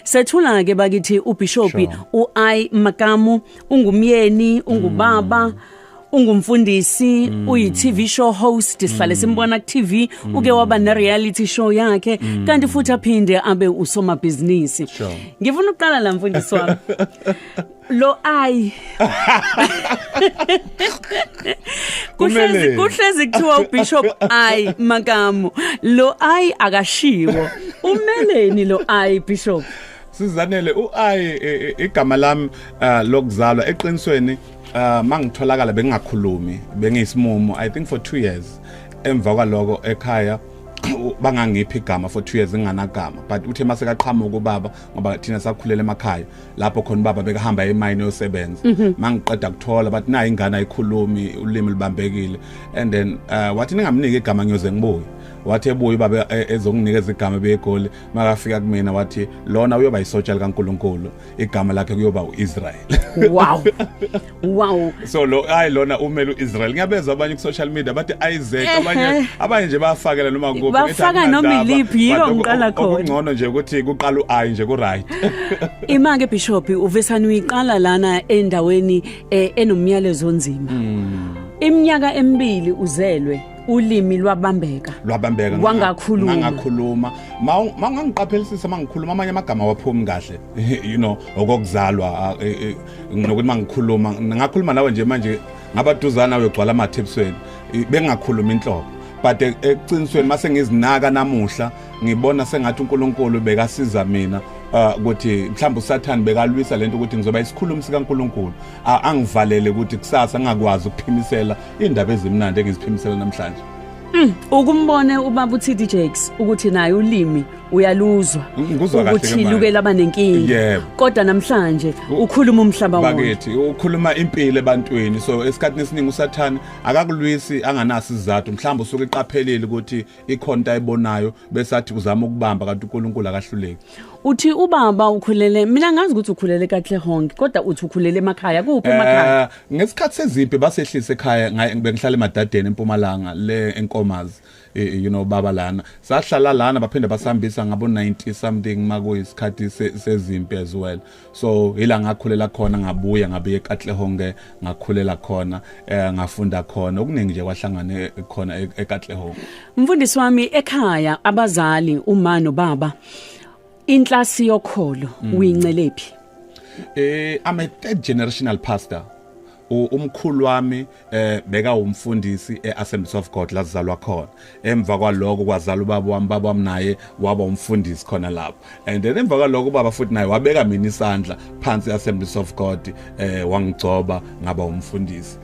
Sethula ke bakithi ubishopi sure. uAi Makamu ungumyeni ungubaba mm. ungumfundisi mm. uyi TV show host sihlale mm. simbona ku TV mm. uke waba ne reality show yakhe mm. kanti futhi aphinde abe usomabhizinisi sure. ngifuna ukuqala la mfundisi wami lo ai kuhlezi kuhlezi kuthiwa ubishop ai makamu lo ai akashiwo umeleni lo ai bishop sizanele uai e, e, igama lami uh, lokuzalwa eqinisweni uh, mangitholakala bengingakhulumi bengiyisimumu i think for 2 years emva kwaloko ekhaya bangangiphi igama for 2 years nginganagama but uthe mase kaqhamuka ubaba ngoba thina sakhulela emakhaya lapho khona baba bekahamba emayini yosebenza mhm. mangiqeda kuthola bathi nayi ingane ayikhulumi ulimi libambekile and then uh, wathi ningamnike igama ngiyoze ngibuye wathi ebuye baba e, ezonginikeza igama beyegoli makafika kumina wathi lona uyoba isotsha likaNkuluNkulu igama lakhe kuyoba uIsrael wow Wow. So lo hayi lona umele uIsrael. Ngiyabezwa abanye ku social media bathi Isaac abanye abanye nje bafakela noma kuphi. Bafaka noma iliphi yiko ngiqala khona. Okungcono nje ukuthi kuqala uAyi nje ku right. Ima ke bishop uvesani uyiqala lana endaweni eh, enomyalezo onzima. Hmm. Iminyaka emibili uzelwe ulimi lwabambeka lwabambeka wangakhuluma ngangakhuluma mangangiqaphelisisa mangikhuluma amanye amagama waphumi kahle you know okokuzalwa eh, eh, nginokuthi mangikhuluma ngakhuluma nawe nje manje ngabaduzana uyogcwala amathipsweni bengakhuluma inhlobo but e-, eqinisweni mase ngizinaka namuhla ngibona sengathi uNkulunkulu bekasiza mina uh, ukuthi mhlawumbe uSathane bekalwisa lento ukuthi ngizoba isikhulumi sikaNkulunkulu angivalele ukuthi kusasa ngakwazi ukuphimisela indaba ezimnandi engiziphimisela namhlanje mm, ukumbone ubaba uTD Jakes ukuthi naye ulimi uyaluzwa Ngikuzwa kahle ukuthi ke manje. luke laba nenkinga Yebo. kodwa namhlanje U- ukhuluma umhlaba wonke bakithi ukhuluma impilo ebantwini so esikhathini esiningi usathane akakulwisi anganaso isizathu mhlawumbe usuke iqaphelile ukuthi ikhona into ayibonayo bese athi uzama ukubamba kanti unkulunkulu akahluleki uthi ubaba ukhulele mina ngazi ukuthi ukhulele kahle honke kodwa uthi ukhulele emakhaya kuphi emakhaya Eh, ngesikhathi sezimpi basehlise ekhaya ngaye- bengihlala emadadeni empumalanga le enkomazi eh, you know baba lana sahlala lana baphinde basihambisa ngabo 90 something makuyisikhathi sezimpi as well so ila ngakhulela khona ngabuya ngabuye eKatlehonge ngakhulela khona eh, ngafunda khona okuningi nje kwahlangane khona e-, eKatlehonge mfundisi wami ekhaya abazali uma nobaba inhlasi yokholo mm. uyincelephi eh i'm a third generational pastor umkhulu wami eh beka umfundisi eAssemblies of God lazalwa khona emva kwaloko kwazala ubaba wami baba wami naye waba umfundisi khona lapho and then emva kwaloko ubaba futhi naye wabeka mina isandla phansi Assemblies of God eh wangigcoba ngaba umfundisi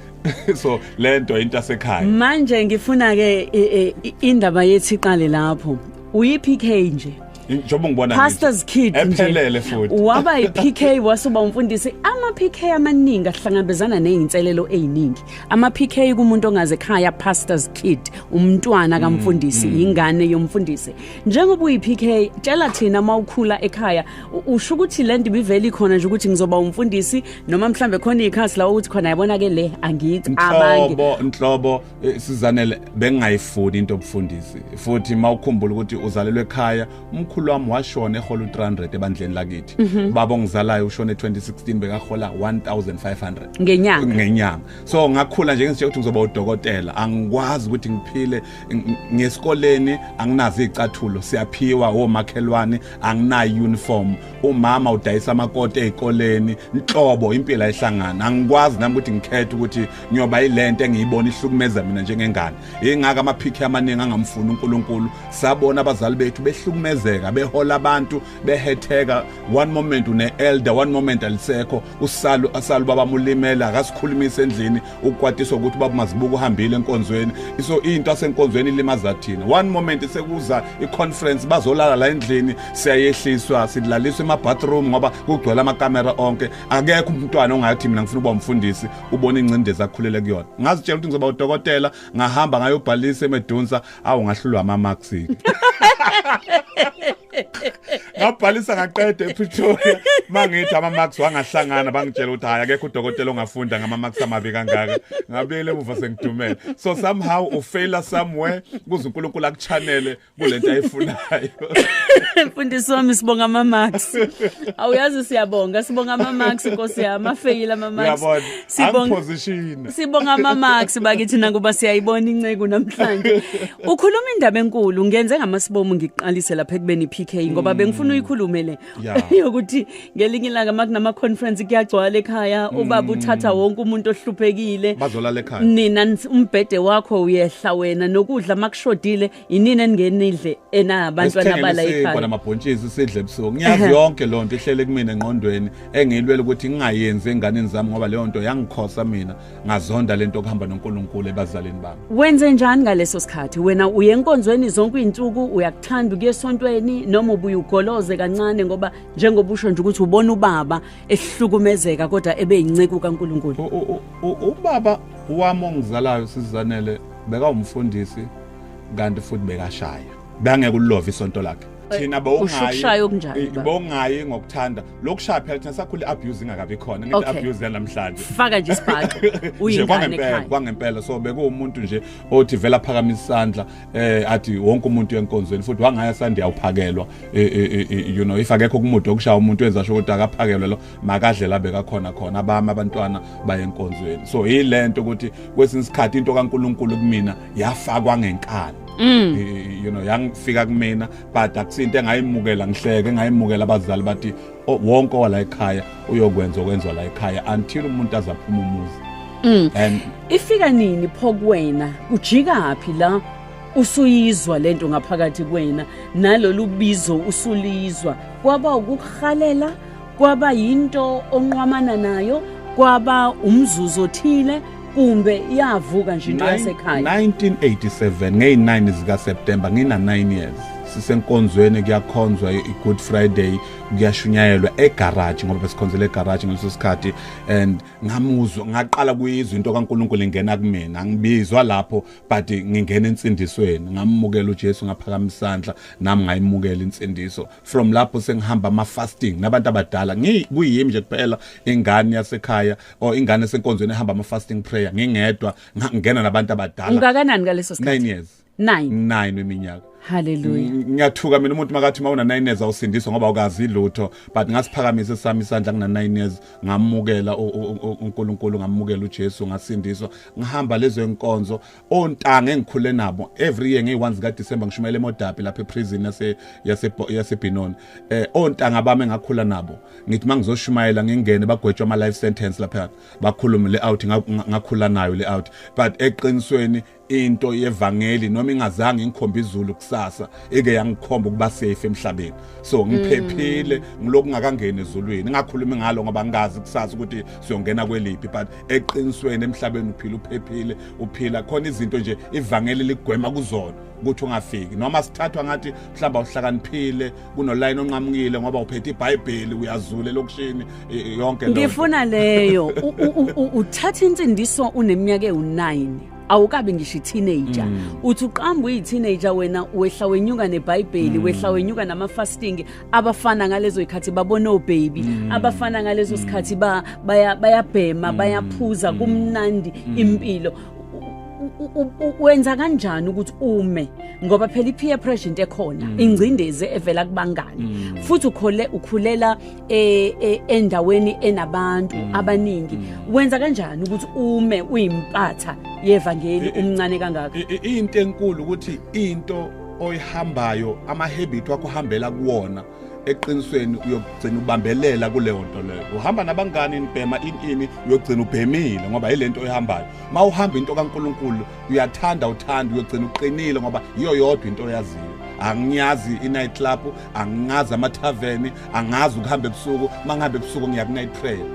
so lento into asekhaya manje ngifuna ke indaba yethi iqale lapho uyiphike nje njengoba ngibona pastors kid ephelele futhi waba yiPK wasuba umfundisi ama PK amaningi ahlangabezana nezinselelo eziningi ama PK kumuntu ongaze ekhaya pastors kid umntwana mm, kamfundisi mm. ingane yomfundisi njengoba uyiPK tshela thina mawukhula ekhaya usho ukuthi lento biveli khona nje ukuthi ngizoba umfundisi noma mhlambe khona ikhasi la ukuthi khona yabona ke le angicabangi inhlobo inhlobo Eh, sizanele bengingayifuni into obufundisi futhi uma ukhumbula ukuthi uzalelwe ekhaya umkhulu wami washona ehola u-300 ebandleni lakithi mhm. baba ongizalayo ushone 2016 bekahola 1500 ngenyanga ngenyanga so ngakhula nje ngisitshe ukuthi ngizoba udokotela angikwazi ukuthi ngiphile ngesikoleni anginazo izicathulo siyaphiwa omakhelwane anginayo uniform umama udayisa amakoti ezikoleni nhlobo impilo ayihlangana angikwazi nami ukuthi ngikhethe ukuthi ngiyoba ilento engiyibona ihlukumeza mina njengengane ingaka amaphikhi amaningi angamfuni uNkulunkulu sabona abazali bethu behlukumezeka behola abantu behetheka one moment une elder one moment alisekho usalu asalu baba mulimela akasikhulumisa endlini ukukwatiswa ukuthi baba mazibuka uhambile enkonzweni so into asenkonzweni ilimaza thina one moment sekuza iconference bazolala la endlini siyayehliswa sidlaliswa emabathroom ngoba kugcwele amakamera onke akekho umntwana ongathi mina ngifuna ukuba umfundisi ubona ingcindezi akhulele kuyona ngazitshela ukuthi ngizoba udokotela ngahamba ngayobhalisa emedunsa awu ngahlulwa ama marks ngabhalisa ngaqeda ePretoria mangithi ama marks wangahlangana bangitshela ukuthi hayi akekho udokotela ongafunda ngama marks amabi kangaka ngabuyele emuva sengidumele so somehow u faila somewhere kuze uNkulunkulu akuchanele kulento ayifunayo mfundisi wami sibonga ama marks awuyazi siyabonga sibonga ama marks inkosi yami afeyile ama marks Sibonga Sibonga mama sibakithi nakuba siyayibona inceku namhlanje. Ukhuluma indaba enkulu ngenze ngamasibomu ngiqalise lapha ekubeni PK ngoba mm. bengifuna uyikhulume le yokuthi ngelinye ilanga makunama conference kuyagcwala ekhaya mm. ubaba uthatha wonke umuntu ohluphekile. Bazolala ekhaya. Nina umbhede wakho uyehla wena nokudla makushodile yinini eningenidle enabantwana abala ekhaya kona mabhontshisi sidle ebusuku ngiyazi yonke lo nto ihlele kumina engqondweni engiyilwela ukuthi ngingayenzi enganeni zami ngoba leyo nto yangikhosa mina ngazonda lento okuhamba noNkulunkulu ebazalini bami wenze njani ngaleso sikhathi wena uye enkonzweni zonke izinsuku uyakuthanda ukuye esontweni noma ubuye ugoloze kancane ngoba njengoba usho nje ukuthi ubona ubaba ehlukumezeka kodwa ebe yinceku kaNkulunkulu ubaba wami ongizalayo sizanele beka umfundisi kanti futhi bekashaya bangeke ulove isonto lakhe thina bowungayi okunjani bowungayi ngokuthanda lokushaya phela thina sakhule abuse ingakabi khona ngithi okay. abuse yanamhlanje faka nje isibhaxo uyingane ekhaya kwangempela so bekuwumuntu nje othi vela phakamisa isandla eh athi wonke umuntu yenkonzweni futhi wangaya sandi yawuphakelwa e, e, e, you know if akekho kumude okushaya umuntu wenza sho ukuthi akaphakelwe lo makadle labe kakhona khona abami abantwana bayenkonzweni so yilento ukuthi kwesinye isikhathi into kaNkuluNkulu kumina yafakwa ngenkani Mm. you know yangifika kumina but akusinto engayimukela ngihleke ngayimukela abazali bathi wonke wala ekhaya uyokwenza okwenziwa la ekhaya until umuntu azaphuma umuzi mm. and ifika nini pho kuwena ujika phi la usuyizwa lento ngaphakathi kuwena nalolu bizo usulizwa kwaba ukuhalela kwaba yinto onqwamana nayo kwaba umzuzu othile kumbe iyavuka nje into yasekhaya 1987 ngeyi-9 zikaseptemba ngina-9 years sisenkonzweni kuyakhonzwa i-good friday kuyashunyayelwa egaraji ngoba besikhonzela egaraji ngaleso sikhathi and ngamuzwa ngaqala kuyizwa into kankulunkulu ingena kumina ngibizwa lapho but ngingena ensindisweni ngamukela ujesu ngaphakamisa isandla nami ngayimukela insindiso from lapho sengihamba ama fasting nabantu abadala ngikuyimi nje kuphela ingane yasekhaya or ingane senkonzweni ehamba ama fasting prayer ngingedwa ngingena nabantu abadala ungakanani ngaleso sikhathi 9 years 9 9 weminyaka Hallelujah. Ngiyathuka mina umuntu makathi mawuna 9 years awusindiswa ngoba ukazi lutho but ngasiphakamisa sami isandla kuna 9 years ngamukela uNkulunkulu ngamukela uJesu ngasindiswa ngihamba lezo inkonzo ontanga engikhule nabo every year ngey1 zika December ngishumayela emodapi lapha eprison yase yase yasebinoni eh ontanga bami ngakhula nabo ngithi mangizoshumayela ngingene bagwetshwa ama life sentence lapha bakhulume le out ngakhula nayo le out but eqinisweni into yevangeli noma ingazange ingikhombe izulu kusasa ike yangikhomba ukuba safe emhlabeni so ngiphephile mm. ngiloku ngakangena ezulwini ngakhuluma ngalo ngoba ngazi kusasa ukuthi siyongena kweliphi but eqinisweni emhlabeni uphila uphephile uphila khona izinto nje ivangeli ligwema kuzona ukuthi ungafiki noma sithathwa ngathi mhlawumbe uhlakaniphile kunolayini onqamukile ngoba uphethe ibhayibheli uyazule lokushini yonke lento ngifuna leyo uthatha insindiso uneminyaka ewu9 awukabi ngisho i-teenager mm. uthi uqamba uyi-teenager wena wehla wenyuka nebhayibheli mm. wehla wenyuka nama-fasting abafana ngalezo ikhathi babona obaby mm. abafana ngalezo sikhathi ba bayabhema mm. bayaphuza mm. kumnandi mm. impilo wenza kanjani ukuthi ume ngoba phela ipeer pressure into ekhona mm. ingcindezi evela kubangani mm. futhi ukhole ukhulela e, e, endaweni enabantu mm. abaningi wenza kanjani ukuthi ume uyimpatha yevangeli umncane kangaka into enkulu ukuthi into oyihambayo ama-habit wakho uhambela kuwona eqinisweni uyogcina ubambelela kuleyo nto leyo uhamba nabangani nibhema inini uyogcina ubhemile ngoba yile nto oyihambayo ma uhamba into kankulunkulu uyathanda uthanda uyogcina uqinile ngoba yiyo yodwa into oyaziyo angiyazi i-night club angingazi amathaveni angazi ukuhamba ebusuku uma ngihamba ebusuku ngiya ku-night prayer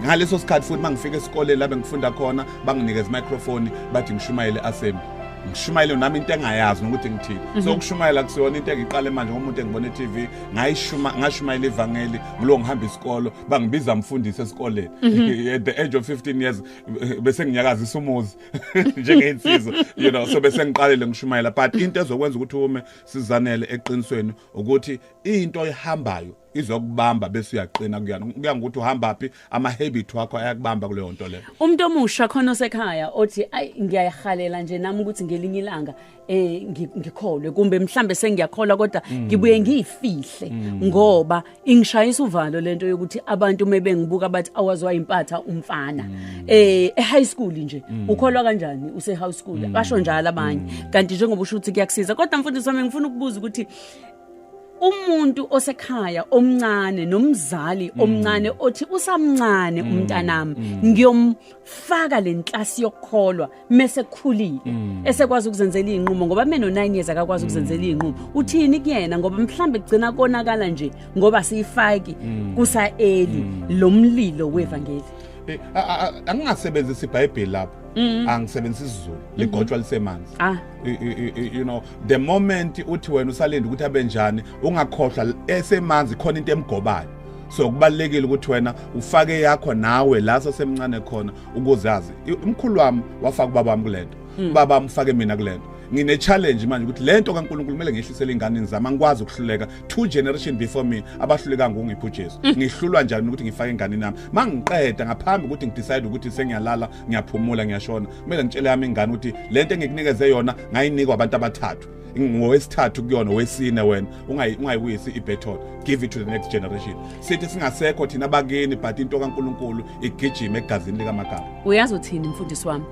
ngaleso sikhathi futhi uma ngifika esikoleni labe ngifunda khona banginikeza imicrofoni bathi ngishumayele assembly ngishumayele nami into engayazi nokuthi ngithini mhm. so ukushumayela kusiyona into engiqale manje ngomuntu engibona e-TV ngayishuma ngashumayela ivangeli ngilo ngihamba isikolo bangibiza mfundisi esikoleni mhm. at the age of 15 years bese nginyakazisa umuzi njengeinsizwa you know so bese ngiqalele ngishumayela but into ezokwenza ukuthi ume sizanele eqinisweni ukuthi into ehambayo izokubamba bese uyaqina kuyona kuya ngokuthi uhamba phi ama habit wakho ayakubamba kuleyo nto leyo umuntu omusha khona osekhaya othi ay ngiyayihalela nje nami ukuthi ngelinye ilanga eh ngikholwe kumbe mhlambe sengiyakholwa kodwa mm. ngibuye ngiyifihle mm. ngoba ingishayisa uvalo lento yokuthi abantu mebengibuka bathi awazwa impatha umfana mm. eh high school nje ukholwa kanjani use high school basho njalo abanye kanti njengoba usho ukuthi kuyakusiza kodwa mfundisi wami ngifuna ukubuza ukuthi umuntu osekhaya omncane nomzali mm. omncane othi usamncane mm. umntanami mm. ngiyomfaka lenhlasi yokukholwa mese khulile esekwazi ukuzenzela izinqumo ngoba mina no9 years akakwazi ukuzenzela izinqumo uthini kuyena ngoba mhlambe kugcina konakala nje ngoba siyifaki kusa eli lomlilo wevangeli eh, angingasebenzisi iBhayibheli lapho angisebenzisi isiZulu ligotshwa lisemanzi ah you know the moment uthi wena usalinde ukuthi abe njani ungakhohlwa esemanzi khona into emgobayo so kubalekile ukuthi wena ufake yakho nawe la sasemncane khona ukuzazi umkhulu wami wafaka ubaba wami kulento hmm. ubaba wami ufake mina kulento ngine challenge manje ukuthi lento kaNkulunkulu kumele ngihlisele ingane ngizama angikwazi ukuhluleka two generation before me abahluleka ngungiphi uJesu mm. ngihlulwa njani ukuthi ngifake ingane nami mangiqeda ngaphambi ukuthi ngidecide ukuthi sengiyalala ngiyaphumula ngiyashona kumele ngitshele yami ingane ukuthi le nto engikunikeze yona ngayinikwa abantu abathathu ngowesithathu kuyona wesine wena ungayibuyisi ibethol give it to the next generation sithi singasekho thina bakini but into kaNkuluNkulu igijima egazini likamagama uyazi uthini mfundisi wami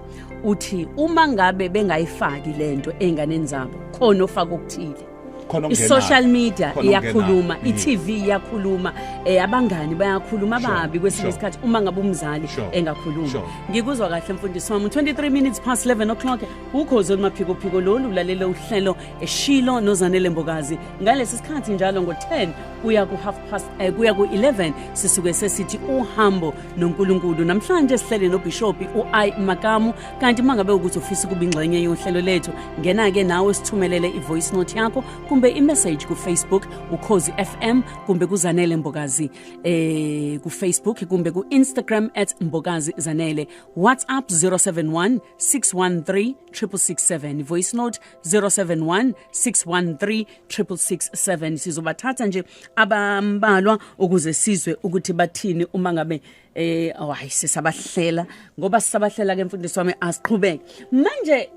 uthi uma ngabe bengayifaki lento enganeni zabo khona ofaka okuthile khona ongenayo i-social media Khona iyakhuluma ongenayo. i-tv iyakhuluma eh abangani bayakhuluma Sure, ababi kwesinye sure. isikhathi uma ngabe umzali Sure, engakhuluma sure. ngikuzwa kahle mfundisi wami 23 minutes past 11 o'clock ukhozi olumaphikophiko lolu ulalele uhlelo eshilo nozanele mbokazi ngalesi sikhathi njalo ngo-10 kuya ku-half past eh, kuya ku-11 sisuke sesithi uhambo nonkulunkulu namhlanje sihlele nobhishopi u-i makamu kanti uma ngabe ukuthi ufisa ukuba ingxenye yohlelo lethu ngena-ke nawe sithumelele i-voice note yakho kumbe imessage kufacebook ukhozi fm kumbe kuzanele mbokazi eh kufacebook kumbe ku-instagram at mbokazi zanele whatsapp 071 613 667 voice note 071 613 667 sizobathatha nje abambalwa ukuze sizwe ukuthi bathini uma ngabe eh awayi sisabahlela ngoba sisabahlela ke mfundisi wami asiqhubeke manje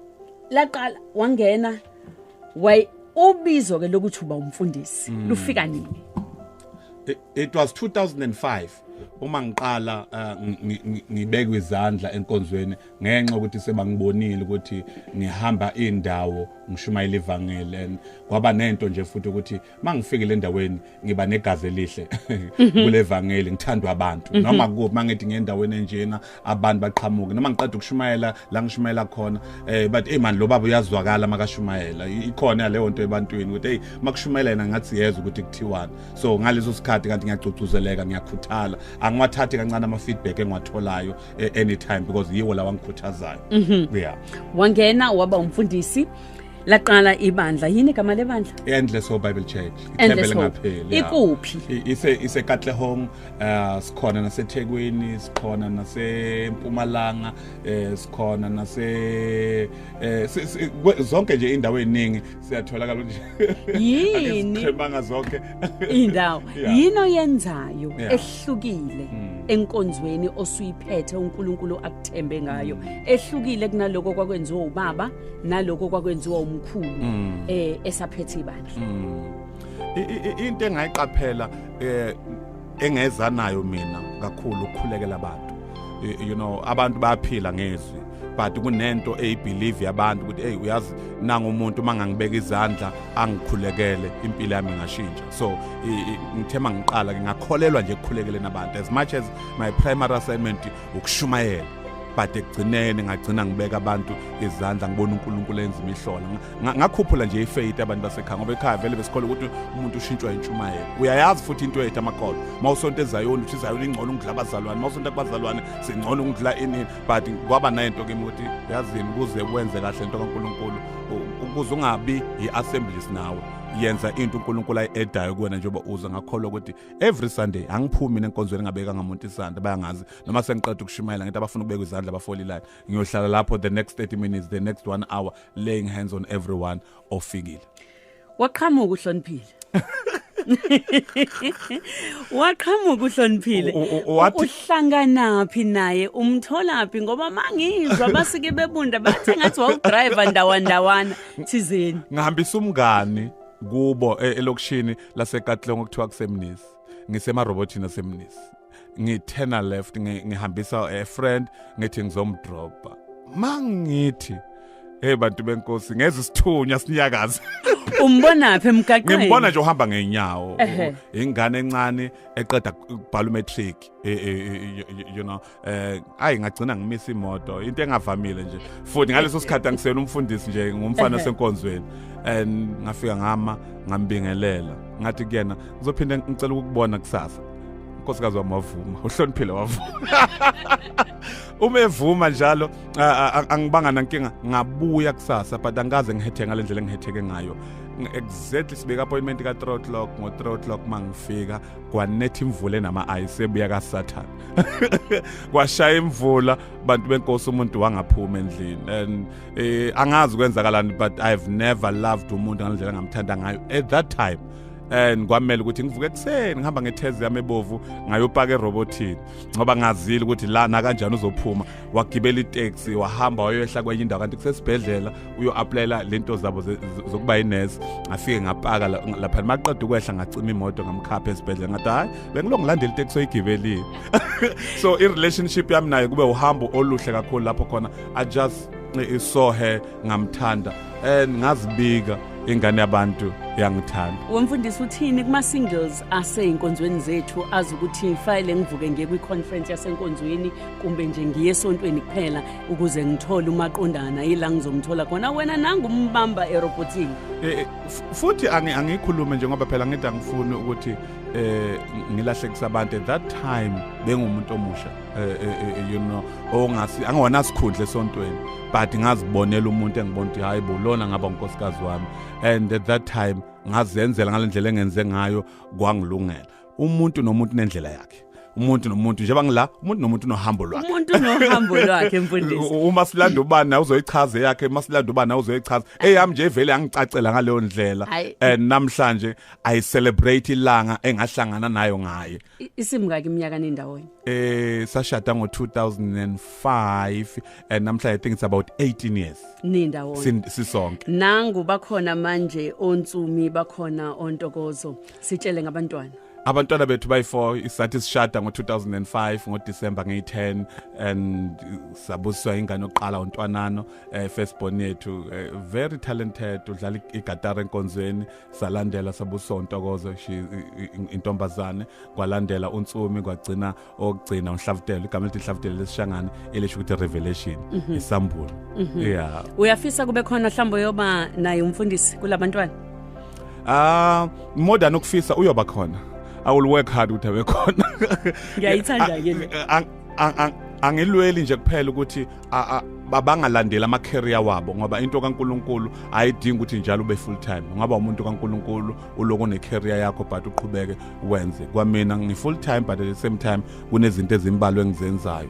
laqala wangena way ubizo ke lokuthi uba umfundisi mm. lufika nini it, it was 2005 uma ngiqala uh, ngibeka izandla enkonzweni ngenxa ukuthi sebangibonile ukuthi ngihamba indawo ngishumayela ivangeli and kwaba nento nje futhi ukuthi mangifikile endaweni ngiba negazi elihle mhm. kulevangeli ngithandwa abantu mhm. noma kuphi mangithi ngendaweni enjena abantu baqhamuke noma ngiqeda ukushumayela la ngishumayela khona eh but hey man lo baba uyazwakala makashumayela ikhona leyo nto ebantwini ukuthi hey makushumayela yena ngathi yezwa ukuthi kuthiwani so ngaleso sikhathi kanti ngiyagcugcuzeleka ngiyakhuthala angiwathathi kancane ama feedback engiwatholayo eh, anytime because yiwo lawa ngikhuthazayo mhm. yeah wangena waba umfundisi laqala ibandla yini igama lebandla endless hope bible church ithembe lingapheli ikuphi ise ise katlehong uh, sikhona nasethekwini sikhona nasempumalanga eh, sikhona nase eh, zonke nje indawo eziningi siyatholakala nje yini sikhemanga zonke indawo yini oyenzayo ehlukile hmm. enkonzweni osuyiphethe uNkulunkulu akuthembe ngayo hmm. ehlukile kunaloko kwakwenziwa ubaba naloko kwakwenziwa umkhulu mm. eh esaphethe ibandla mm. into engayiqaphela eh engeza nayo mina kakhulu ukukhulekela abantu you know abantu bayaphila ngezwi but kunento eyibelieve yabantu ukuthi hey uyazi nanga umuntu uma ngangibeka izandla angikhulekele impilo yami ngashintsha so ngithema ngiqala ngingakholelwa nje ekukhulekeleni abantu as much as my primary assignment ukushumayela but ekugcineni ngagcina ngibeka abantu izandla ngibona uNkulunkulu enza imihlola ngakhuphula nje ifaith abantu basekhaya ngoba ekhaya vele besikole ukuthi umuntu ushintshwa intshumayelo uyayazi futhi into ethu amakolo mawusonto ezayoni uthi izayoni ingcono ukudla abazalwane mawusonto kubazalwane singcono ukudla inini but kwaba nento kimi ukuthi yazini kuze kwenze kahle into kaNkulunkulu ukuze ungabi yi-assemblies nawe yenza into uNkulunkulu ayedayo kuwena njengoba uza ngakholwa ukuthi every sunday angiphumi mina enkonzweni ngabeka ngamuntu isandla bayangazi noma sengiqeda ukushumayela ngithi abafuna ukubeka izandla abafolilane ngiyohlala lapho the next 30 minutes the next one hour laying hands on everyone ofikile waqhamuka uhloniphile waqhamuka uhloniphile uhlanganaphi naye umtholaphi ngoba mangizwa basike bebunda bathe ngathi wawudriver ndawandawana thizeni ngihambisa umngani kubo e-, elokushini lasekatlong okuthiwa kusemnisi ngisemarobotini asemnisi ngithena left ngihambisa a friend ngithi ngizomdropa mangithi hey bantu benkosi ngeze isithunywa sinyakaza umbona phi emgaqweni ngimbona nje uhamba ngeenyawo ingane encane eqeda ukubhala umatric e, e, e, you know eh ayi ngagcina ngimisa imoto into engavamile nje futhi ngaleso sikhathi angisena umfundisi nje ngumfana senkonzweni and ngafika ngama ngambingelela ngathi kuyena ngizophinda ngicela ukukubona kusasa unkosikazi wami wavuma uhloniphile wavuma uma evuma njalo angibanga nankinga ngabuya kusasa but angikaze ngihetheke ngale ndlela engihetheke ngayo exactly sibeka appointment ka-3 o'clock ngo-3 o'clock uma ngifika kwanetha imvula enama-ice ebuya kasathane kwashaya imvula bantu benkosi umuntu wangaphuma endlini and eh, angazi kwenzakalani but i've never loved umuntu ngalendlela ngamthanda ngayo at that time and kwamele ukuthi ngivuke ekuseni ngihamba ngethezi yami ebovu ngayopaka erobotini ngoba ngazile ukuthi lana kanjani uzophuma wagibela itaxi wahamba wayoyehla kwenye indawo kanti kusesibhedlela uyo-aplayela le nto zabo zokuba yinesi ngafike ngapaka lapha maqeda ukwehla ngacima imoto ngamkhapha esibhedlela ngathi hhayi bengilo ngilandela iteksi oyigibelile so i-relationship yami naye kube uhambo oluhle kakhulu lapho khona i just saw her ngamthanda and ngazibika ingane yabantu yangithanda wemfundisi uthini kuma-singles asey'nkonzweni zethu azi ukuthi fayele ngivuke ngiye kwi-conference yasenkonzweni kumbe nje ngiye esontweni kuphela ukuze ngithole umaqondana yila ngizomthola khona wena nangu umbamba erobotini eh, eh, futhi angikhulume nje ngoba phela ngithi angifuni ukuthi eh ngilahlekisa abantu at that time bengumuntu omusha eh, eh, you know ongasi angona sikhundle sontweni but ngazibonela umuntu engibona ukuthi hayi bo lona ngaba unkosikazi wami and at that time ngazenzela ngalendlela engenze ngayo kwangilungela umuntu nomuntu nendlela yakhe umuntu nomuntu njengoba ngila umuntu nomuntu unohambo lwakhe umuntu unohambo lwakhe mfundisi uma silanda ubani nawe uzoyichaza yakhe uma silanda ubani nawe uzoyichaza eyami nje vele angicacela ngaleyo ndlela and namhlanje i celebrate ilanga engahlangana nayo ngaye isimka ke iminyaka nendawonye eh sashada ngo 2005 and namhlanje i think it's about 18 years nindawonye sisonke nangu bakhona manje ontsumi bakhona ontokozo sitshele ngabantwana abantwana bethu bayi-4 isathi sishada ngo-2005 ngodisemba ngeyi-10 and sabusiswa ingane yokuqala untwanano um eh, first born yethu eh, very talented udlala igatara enkonzweni salandela sabusiswa untokozo intombazane kwalandela unsumi kwagcina okugcina unhlavutelo igama elithi inhlavutelo lesishangane elisho ukuthi revelation mhm. isambulo mhm. yeah uyafisa kube khona mhlawumbe uyoba naye umfundisi kulabantwana ah more than ukufisa uyoba khona i will work hard ukuthi abe khona ngiyayithanda ke le angilweli nje kuphela ukuthi babangalandeli ama-career wabo ngoba into kaNkuluNkulu ayidingi ukuthi njalo ube full time ungaba umuntu kaNkuluNkulu uloko ne career yakho but uqhubeke wenze kwamina ngi full time but at the same time kunezinto ezimbalwa engizenzayo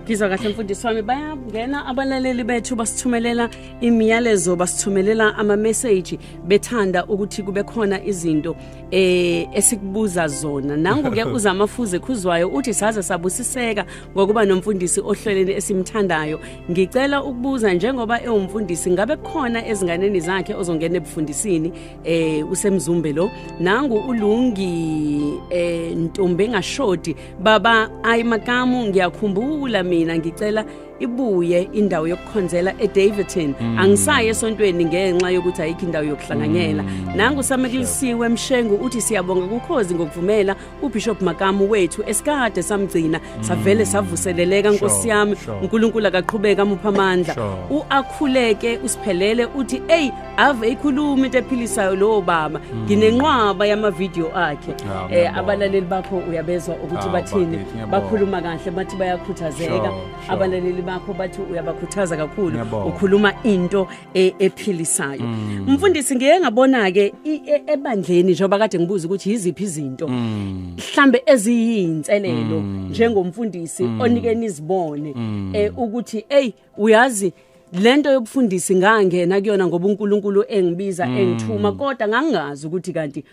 ngizwa kahle mfundisi wami bayangena abalaleli bethu basithumelela imiyalezo basithumelela ama-message bethanda ukuthi kube khona izinto eh esikubuza zona nangu-ke uzamafuze khuzwayo uthi saze sabusiseka ngokuba nomfundisi ohleleni esimthandayo Ngicela ukubuza njengoba ewumfundisi ngabe khona ezinganeni zakhe ozongena ebufundisini eh usemzumbe lo nangu ulungi eh ntombi engashodi baba ayi makamu ngiyakhumbula mina ngicela ibuye indawo yokukhonzela eDavidton mm. angisayi esontweni ngenxa yokuthi ayikho indawo yokuhlanganyela mm. nangu samekulisiwe mshengu uthi siyabonga kukhozi ngokuvumela ubishop makamu wethu esikade samgcina mm. savele savuseleleka nkosi yami uNkulunkulu akaqhubeka amupha amandla uakhuleke usiphelele uthi ey ave ikhuluma into ephilisayo lowo baba mm. nginenqwaba yama video akhe eh abalaleli bakho uyabezwa ukuthi bathini bakhuluma kahle bathi bayakhuthazeka abalaleli bakho bathi uyabakhuthaza kakhulu ukhuluma into e- ephilisayo Mm. mfundisi ngiye ngabona ke i- e- ebandleni njengoba kade ngibuza ukuthi yiziphi izinto Mm. mhlambe eziyinselelo njengomfundisi Mm. onike nizibone eh ukuthi hey uyazi lento yobufundisi ngangena kuyona ngoba uNkulunkulu engibiza Mm. engithuma kodwa ngangazi ukuthi kanti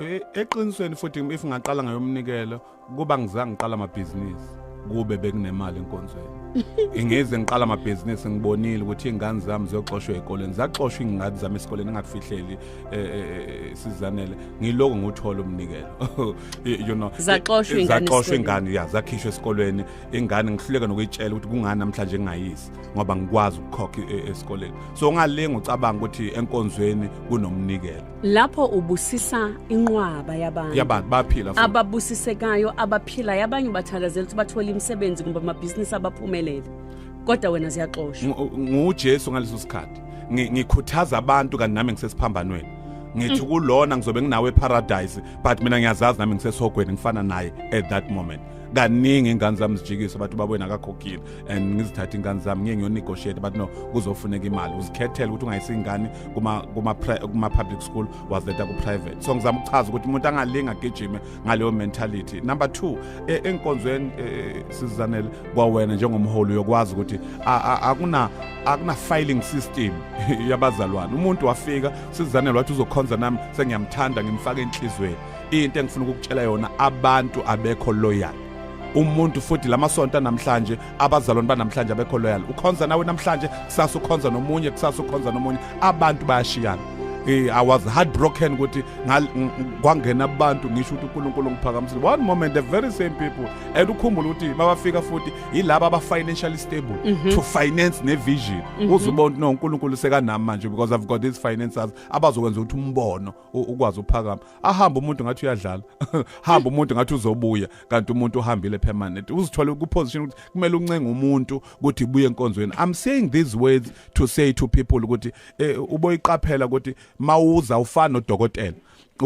E, eqinisweni futhi if ngaqala ngayomnikelo kuba ngizange ngiqala amabhizinisi kube bekunemali enkonzweni ingize ngiqala amabhizinisi ngibonile ukuthi iy'ngane zami ziyoxoshwa ey'koleni zaxoshwa iy'ngane zami esikoleni engakufihleli e, e, sizanele ngiloko ngiwuthole umnikelo you know zaxoshwa iy'ngane ya zakhishwa esikolweni ingane ngihluleka nokuyitshela ukuthi kungani namhlanje ngingayisi ngoba ngikwazi ukukhokha esikoleni so ungalinga ucabanga ukuthi enkonzweni kunomnikelo lapho ubusisa inqwaba yabantu yabantu baphila futhi. ababusisekayo abaphila yabanye ubathakazela ukuthi bathole imisebenzi kumbe amabhizinisi abaphumelele kodwa wena ziyaxoshwa Ngu- ngujesu ngaleso sikhathi Ngi- ngikhuthaza abantu kanti nami ngisesiphambanweni ngithi Mm. kulona ngizobe nginawe eparadise but mina ngiyazazi nami ngisesogweni ngifana naye at that moment kaningi ingane zami zijikisa bathi ubabweni akakhokhile and ngizithatha ingane zami ngiye ngiyonegotiate but no kuzofuneka imali uzikhethele ukuthi ungayisa ingane kuma-public school wazileta ku-private so ngizama ukuchaza ukuthi umuntu angalinga agijime ngaleyo mentality number two e, enkonzweni e, sizizanele kwawena njengomholi uyokwazi ukuthi akuna-filing system yabazalwane umuntu wafika sizizanele wathi uzokhonza nami sengiyamthanda ngimfake enhlizweni into engifuna ukukutshela yona abantu abekho loyal umuntu futhi lamasonto namhlanje abazalwane banamhlanje abekho loyal ukhonza nawe namhlanje kusasa ukhonza nomunye kusasa ukhonza nomunye abantu bayashiyana eh i was heartbroken ukuthi kwangena abantu ngisho ukuthi uNkulunkulu ngiphakamisile one moment the very same people and ukhumbula ukuthi babafika futhi yilabo aba financially stable mm -hmm. to finance ne vision mm -hmm. uzubona no uNkulunkulu sekanami manje because i've got these finances abazokwenza ukuthi umbono ukwazi uphakama ahamba umuntu ngathi uyadlala hamba umuntu ngathi uzobuya kanti umuntu uhambile permanent uzithola ku position ukuthi kumele uncenge umuntu ukuthi buye enkonzweni i'm saying these words to say to people ukuthi eh, uboyiqaphela ukuthi mawuza ufana nodokotela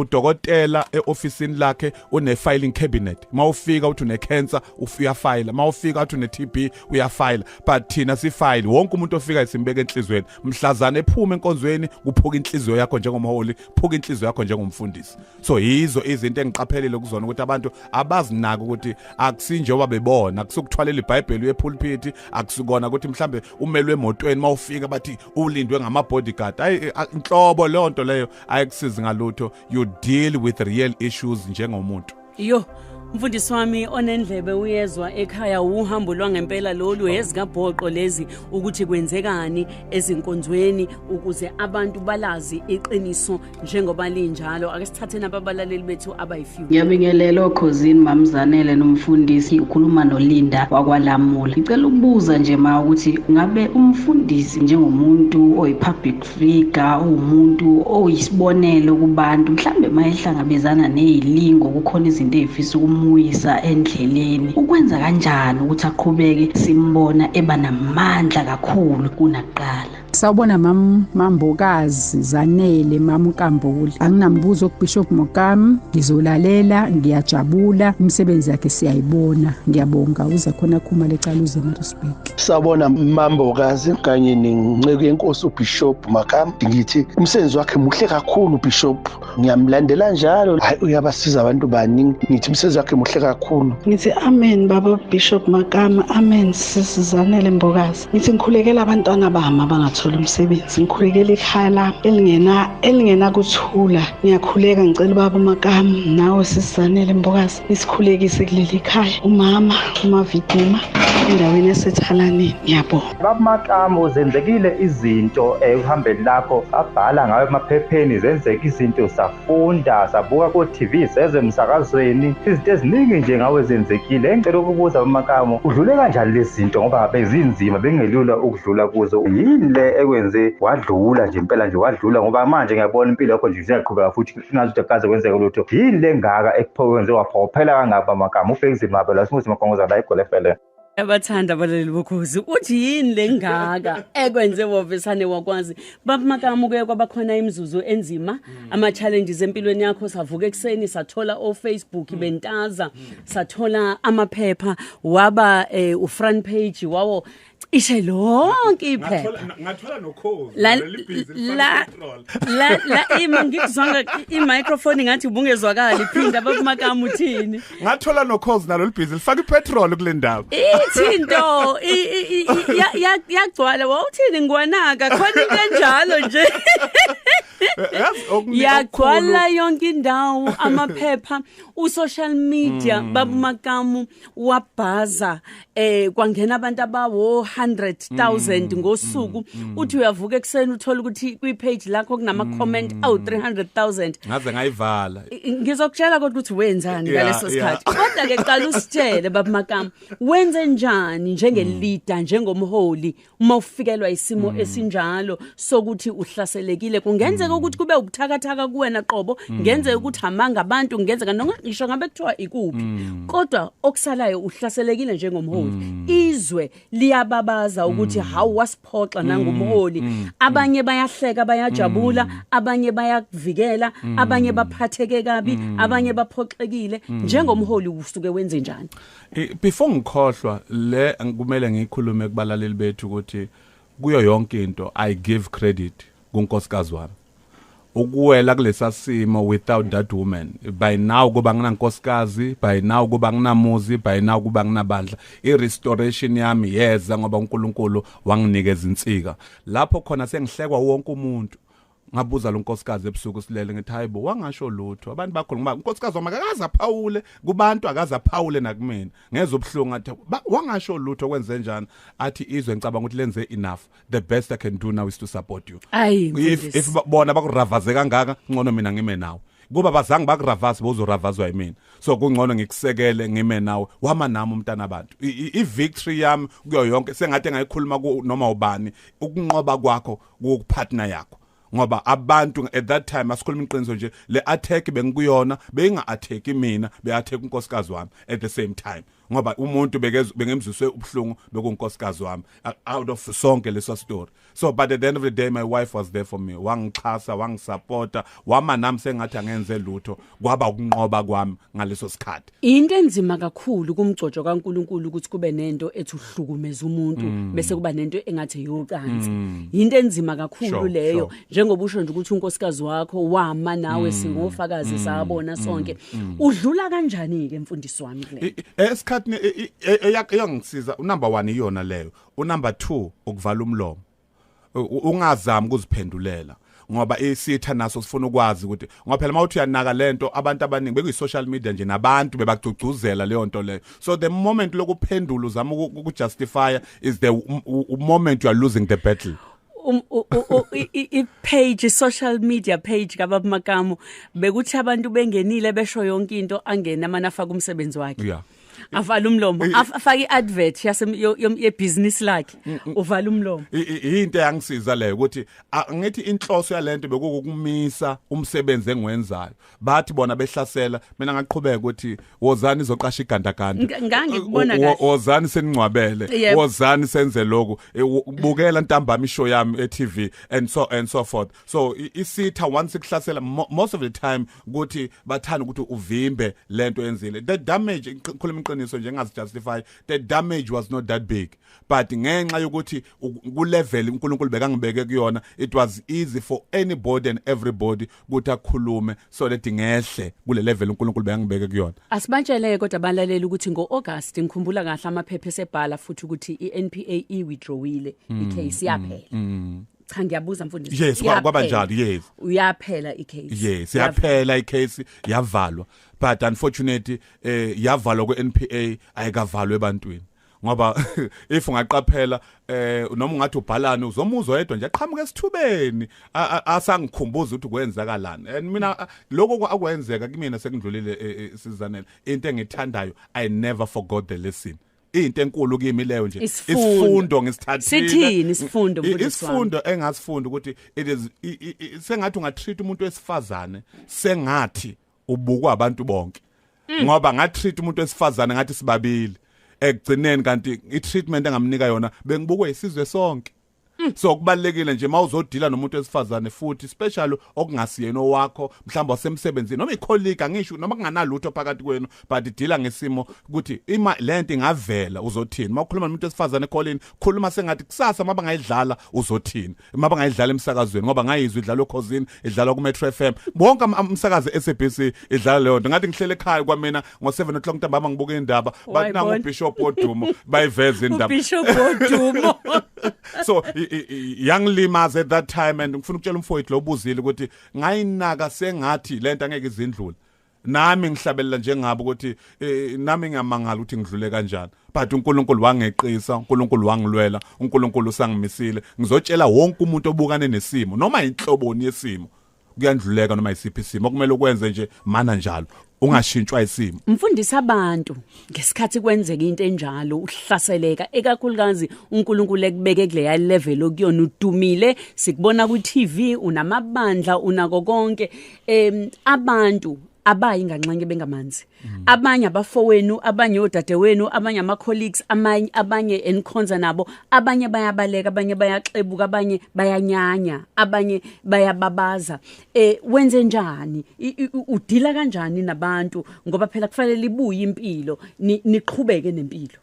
udokotela eofisini lakhe une filing cabinet mawufika uthi une cancer uyafayila mawufika uthi une TB uyafayila but thina sifayile wonke umuntu ofika isimbeke enhlizweni mhlazana ephuma enkonzweni kuphuka inhliziyo yakho njengomholi phuka inhliziyo yakho njengomfundisi so yizo izinto engiqaphelile kuzona ukuthi abantu abazinaki ukuthi akusinjengoba bebona akusukuthwalela ibhayibheli uyepulpiti akusikona ukuthi mhlambe umelwe emotweni mawufika bathi ulindwe ngama bodyguard ayi inhlobo leyo nto leyo ayikusizi ngalutho you deal with real issues njengomuntu yo mfundisi wami onendlebe uyezwa ekhaya uhambo lwangempela lolu ezikabhoqo lezi ukuthi kwenzekani ezinkonzweni ukuze abantu balazi iqiniso njengoba linjalo ake sithatheni ababalaleli bethu abayifew ngiyabingelela okhozini mamzanele nomfundisi ukhuluma nolinda wakwalamula ngicela ukubuza nje ma ukuthi ngabe umfundisi njengomuntu oyi-public Riga uwumuntu oyisibonelo kubantu mhlambe mayehlangabezana nezilingo kukhona izinto ezifisa ukumuyisa endleleni ukwenza kanjani ukuthi aqhubeke simbona eba namandla kakhulu kunaqala sawubona mam mambokazi zanele mamkambuli anginambuzo kubishop mokam ngizolalela ngiyajabula imisebenzi yakhe siyayibona ngiyabonga uze khona khuma lecala uze Sawubona Mambokazi kanye nenceku yenkosi uBishop Makam. Ngithi umsebenzi wakhe muhle kakhulu Bishop. Ngiyamlandela njalo. Hayi uyabasiza abantu baningi. Ngithi umsebenzi wakhe muhle kakhulu. Ngithi amen baba Bishop Makam. Amen sisizanele Mbokazi. Ngithi ngikhulekela abantwana bami abangathola umsebenzi. Ngikhulekela ikhaya lami elingena elingena kuthula. Ngiyakhuleka ngicela ubaba Makam nawe sisizanele Mbokazi. isikhulekise kuleli khaya umama umaviduma endaweni yasethalaneni ngiyabonga babumaqamu zenzekile izinto ekuhambeni lakho abhala ngayo emaphepheni zenzeka izinto safunda sabuka ko-tv sezwe emsakazweni izinto eziningi nje ngawe zenzekile engicela ukubuza bamaqamu udlule kanjani lezi zinto ngoba bezinzima bengelula ukudlula kuzo yini le ekwenze wadlula nje impela nje wadlula ngoba manje ngiyabona impilo yakho nje ziyaqhubeka futhi singazi ukuthi kukaze kwenzeke lutho yini le ngaka ekuphokenze waphokophela kangaba amagama ufekizini mabe la simuthi magongoza la igole fele abathanda abaleli bokhozi uthi yini le ngaka ekwenze wovesane wakwazi babamakamuke kwabakhona imizuzu enzima ama-challenges empilweni yakho savuka ekuseni sathola ofacebook mm. bentaza mm. sathola amaphepha waba um ufront page wawo cishe lonke iphepha Ngathola ngathola nokhozi. la leli busy lifana la petrol. la la ima ngikuzwanga i microphone ngathi ubungezwakali phinda bakumakamu uthini ngathola nokhozi nalo libhizi lifaka ipetrol kule ndawo ithinto i- i- i- i- ya- ya- yagcwala wawuthini ngwanaka khona into enjalo nje Eh, yazi okuningi yagcwala okukhulu. yonke indawo amaphepha usocial media babumakamu wabhaza eh kwangena abantu abawo 100,000 mm, ngosuku mm, mm. uthi uyavuka ekseni uthola ukuthi kwi page lakho kunama mm, comment mm. awu 300,000 ngaze ngayivala ngizokutshela kodwa ukuthi wenzani ngaleso sikhathi kodwa ke qala usitshele baba makam wenze njani njenge mm. leader njengomholi uma ufikelwa isimo mm. esinjalo sokuthi uhlaselekile kungenzeka mm. ukuthi kube ubuthakathaka kuwena qobo mm. ngenzeka ukuthi hamanga abantu ngenzeka noma ngisho ngabe kuthiwa ikuphi mm. kodwa okusalayo uhlaselekile njengomholi mm. izwe liyababaza ukuthi mm. how wasiphoxa nangumholi mm. mm. abanye bayahleka bayajabula mm. abanye bayakuvikela mm. abanye baphatheke kabi mm. abanye baphoxekile mm. njengomholi usuke wenze njani Before ngikhohlwa le kumele ngikhulume kubalaleli bethu ukuthi kuyo yonke into I give credit kunkosikazi wami. Ukuwela kulesa simo without that woman by now kuba nginankosikazi by now kuba nginamuzi by now kuba nginabandla i restoration yami yeza ngoba uNkulunkulu wanginikeza insika lapho khona sengihlekwa wonke umuntu ngabuza lo nkosikazi ebusuku silele ngithi hayibo wangasho lutho abantu bakho ngoba unkosikazi wami akaze aphawule kubantu akaze aphawule nakumina ngeze ubuhlungu athi wangasho lutho kwenze njani athi izwe ngicabanga ukuthi lenze enough the best i can do now is to support you if, if bona bakuravaze kangaka ngcono mina ngime nawe kuba bazange bakuravasi bozoravazwa yimina so kungcono ngikusekele ngime nawe wama nami umntana abantu i-victory yami kuyo yonke sengathi engayikhuluma noma ubani ukunqoba kwakho ku partner yakho ngoba abantu at that time asikhuluma iqiniso nje le attack bengikuyona beyinga attack mina be attack unkosikazi wami at the same time ngoba umuntu bekezwe bengemziswe ubhlungu bekunkosikazi wami out of sonke leso story so but at the end of the day my wife was there for me wangixhasa wangisupporta wama nami sengathi angenze lutho kwaba ukunqoba kwami ngaleso sikhathi Into enzima kakhulu kumgcojo kaNkuluNkulu ukuthi kube nento ethi uhlukumeza umuntu mm. bese kuba nento engathi eyocansi. Mm. Into enzima kakhulu sure, leyo sure. njengoba usho nje ukuthi unkosikazi wakho wama nawe mm. singofakazi mm. sabona mm. sonke. Mm. Mm. Udlula kanjani ke mfundisi wami le? Esikhathini e, e, e, eyangisiza unumber 1 iyona leyo. Unumber 2 ukuvala umlomo. ungazami ukuziphendulela ngoba isitha naso sifuna ukwazi ukuthi ngoba phela mawuthi uyanaka lento abantu abaningi bekuyi social media nje nabantu bebagcugcuzela leyo nto leyo so the moment lokuphendula uzama ukujustify is the moment you are losing the battle um, i-page social media page kababa Makamu bekuthi abantu bengenile besho yonke into angena amana afaka umsebenzi wakhe yeah. avala umlomo afake iadvert yase yebusiness lakhe mm, mm. uvala umlomo into yangisiza leyo ukuthi ngithi inhloso yalento bekukumisa umsebenzi engiwenzayo bathi bona behlasela mina ngaqhubeka ukuthi wozani izoqasha igandaganda ngangikubona kahle wozani seningcwabele wozani senze lokhu e, bukela ntambama ishow yami eTV and so and so forth so isitha once ikuhlasela most of the time ukuthi bathanda ukuthi uvimbe lento enzile the damage ngikhuluma iqiniso nje ngingazijustify the damage was not that big but ngenxa yokuthi ku level uNkulunkulu bekangibeke kuyona it was easy for anybody and everybody ukuthi akhulume so that ngehle kule level uNkulunkulu bekangibeke kuyona asibatshele kodwa balaleli ukuthi ngo August ngikhumbula kahle amaphepha esebhala futhi ukuthi iNPA i withdrawile hmm, icase yaphela hmm, hmm. cha ngiyabuza mfundisi yes kwa- kwaba Iyaphela. njalo yes uyaphela icase yes yaphela icase yavalwa but unfortunately eh yavalwa kweNPA ayikavalwe ebantwini ngoba if ungaqaphela eh noma ungathi ubhalani uzomuzwa yedwa nje aqhamuka esithubeni a- a- asangikhumbuza ukuthi kwenzakalani and mina a- lokho kwa- akwenzeka kimina sekundlulile eh, eh, sizanele into engithandayo i never forgot the lesson into enkulu kimi leyo nje isifundo ngisithathile sithini isifundo mfundisi isifundo engasifunda ukuthi it is sengathi ungatreat umuntu wesifazane sengathi ubukwa abantu bonke mm. ngoba ngatreat umuntu wesifazane ngathi sibabili ekugcineni kanti i treatment engamnika yona bengibukwe isizwe sonke Mm. so kubalekile nje mawuzodila nomuntu wesifazane futhi special okungasiyena owakho mhlawumbe wasemsebenzini noma icolleague angisho noma kunganalutho phakathi kwenu but idila ngesimo ukuthi ima lento ingavela uzothini mawukhuluma nomuntu wesifazane callini khuluma sengathi kusasa maba ngayidlala uzothini maba ngayidlala emsakazweni ngoba ngayizwa idlala okhozini idlala ku Metro FM bonke umsakazi SABC idlala leyo nto ngathi ngihlele ekhaya kwamina ngo 7 o'clock ntambama ngibuka indaba bathi nangu bishop odumo bayiveza indaba bishop odumo so young limas at that time and ngifuna ukutshela umfowethu lo ubuzile ukuthi ngayinaka sengathi lento angeke izindlule nami ngihlabelela njengabo ukuthi eh, nami ngiyamangala ukuthi ngidlule kanjani but uNkulunkulu wangeqisa uNkulunkulu wangilwela uNkulunkulu usangimisile ngizotshela wonke umuntu obukane nesimo noma inhloboni yesimo kuyandluleka noma isiphi isimo okumele ukwenze nje mana njalo ungashintshwa isimo mfundisa abantu ngesikhathi kwenzeka into enjalo uhlaseleka ekakhulukazi uNkulunkulu ekubeke kuleya level okuyona udumile sikubona ku TV unamabandla unako konke em abantu abayi nganxenye bengamanzi Mm. abanye abafowenu abanye odadewenu abanye ama colleagues amanye abanye enikhonza nabo abanye bayabaleka abanye bayaxebuka abanye bayanyanya abanye bayababaza eh wenze njani udila kanjani nabantu ngoba phela kufanele libuye impilo niqhubeke nempilo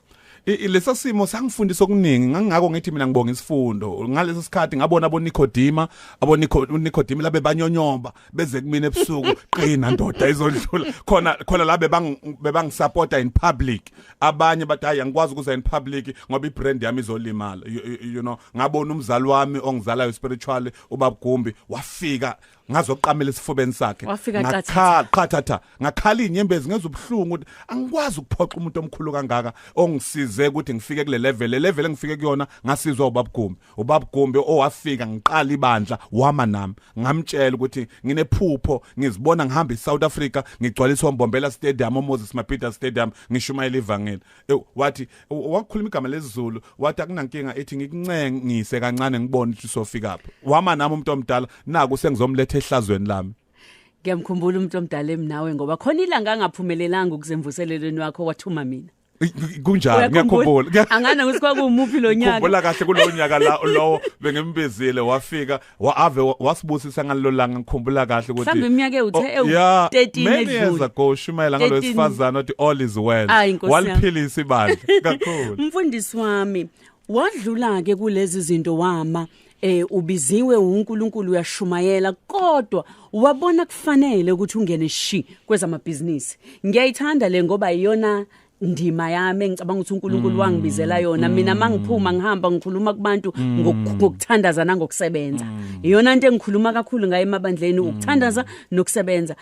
lesa simo sangifundisa okuningi ngangako ngithi mina ngibonga isifundo ngaleso sikhathi ngabona abo Nicodemus abo Nicodemus labe banyonyoba beze kumina ebusuku qina ndoda izodlula khona khona la bebang bebangisupporta in public abanye bathi hayi angikwazi ukuza in public ngoba ibrand yami izolimala you, you know ngabona umzali wami ongizalayo spiritually ubabgumbi wafika ngazoqamela esifubeni sakhe ngakhala qhathatha ngakhala inyembezi ngenza ubuhlungu ukuthi angikwazi ukuphoqa umuntu omkhulu kangaka ongisize ukuthi ngifike kule level le level engifike kuyona ngasizwa ubabgumbi ubabgumbi owafika ngiqala ibandla wama nami ngamtshela ukuthi nginephupho ngizibona ngihamba eSouth Africa ngigcwaliswa uMbombela Stadium uMoses Mabhida Stadium ngishumayela ivangeli e, wathi wakhuluma igama lesiZulu wathi akunankinga ethi ngikuncengise kancane ngibone ukuthi sofika phi wama nami umuntu omdala naku sengizomletha ehlazweni lami ngiyamkhumbula umuntu omdala emnawe ngoba khona ilanga angaphumelelanga ukuzemvuselelweni wakho wathuma mina kunjani ngiyakhumbula angana ukuthi kwakumuphi lo nyaka ngikhumbula kahle kulo nyaka la lowo bengimbizile wafika waave wasibusisa ngalelo langa ngikhumbula kahle ukuthi mhlawumbe iminyaka ewuthe ewu 13 edlule many years ago shumayela ngalo sifazana othi all is well waliphilisa ibandla kakhulu mfundisi wami wadlula ke kulezi zinto wama eh ubiziwe uNkulunkulu uyashumayela kodwa wabona kufanele ukuthi ungene shi kwezamabhizinisi ngiyayithanda le ngoba iyona ndima yami engicabanga ukuthi uNkulunkulu wangibizela yona mina mangiphuma ngihamba ngikhuluma kubantu ngoku- ngokuthandaza nangokusebenza iyona into engikhuluma kakhulu ngayo emabandleni ukuthandaza nokusebenza